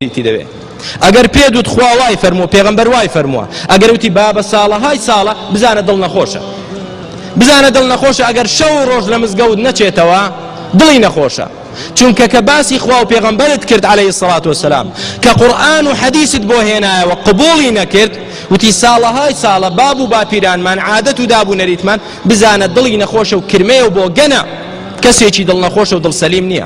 تی دەوێ ئەگەر پێت وت خوا وای فەرموو پێغەمبەر وای فەرمووە ئەگەر وتی بابە ساڵە های ساڵە بزانە دڵ نەخۆشە بزانە دڵ نەخۆشە ئەگەر شەو ڕۆژ لە مزگەوت نەچێتەوە دڵی نەخۆشە چونکە کە باسی خوا و پێغەمبەرت کرد عليه سڵات وسلام کە قورآن و حەدیست بۆ هێنایەوە قبولی نەکرد وتی ساڵەهای ساڵە باب و باپیرانمان عادەت و دابوو نەریتمان بزانە دڵی نەخۆشە و کرمەیە و بۆ گەنە کەسێکی دڵ نەخۆشە و دڵ سەلیم نییە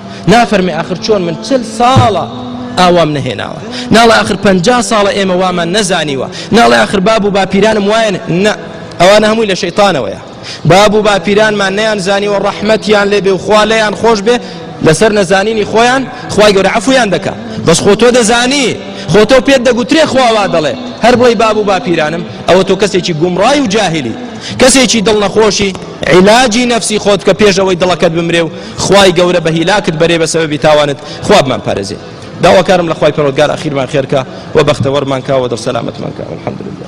نافەرمێ ئاخر چۆن من چل ساڵە ئاوام نەهێناوە ناڵە ئاخر پ ساڵە ئێمە وامان نەزانیوە ناڵە ئاخر باب و باپیرانم وایەن نە ئەوانە هەمووی لە شەیتانەوەیە باب و باپیرانمان نەیان زانیوە ڕەحمەتیان لێ بێ و خوا لەیان خۆش بێ لەسەر نەزانینی خۆیان خی گەورە عفویان دەکە بەس خۆ تۆ دەزانی خۆ تۆ پێت دەگوترێ خواوا دەڵێ هەر بڵی باب و باپیرانم ئەوە تۆ کەسێکی گومڕای و جاهلی کەسێکی دڵ نەخۆشی عیلاجی نەفسی خۆت کە پێشەوەی دڵەکەت بمرێ و خوای گەورە بە هیلاکت بەرێ بە سەبەبی تاوانت خوا بمان پارێزێ داواکارم لە خوای پەروەردگار ئەخیرمان خێرکە و بەختەوەرمان کاوە دڵ سەلامەتمان کە الحمدلله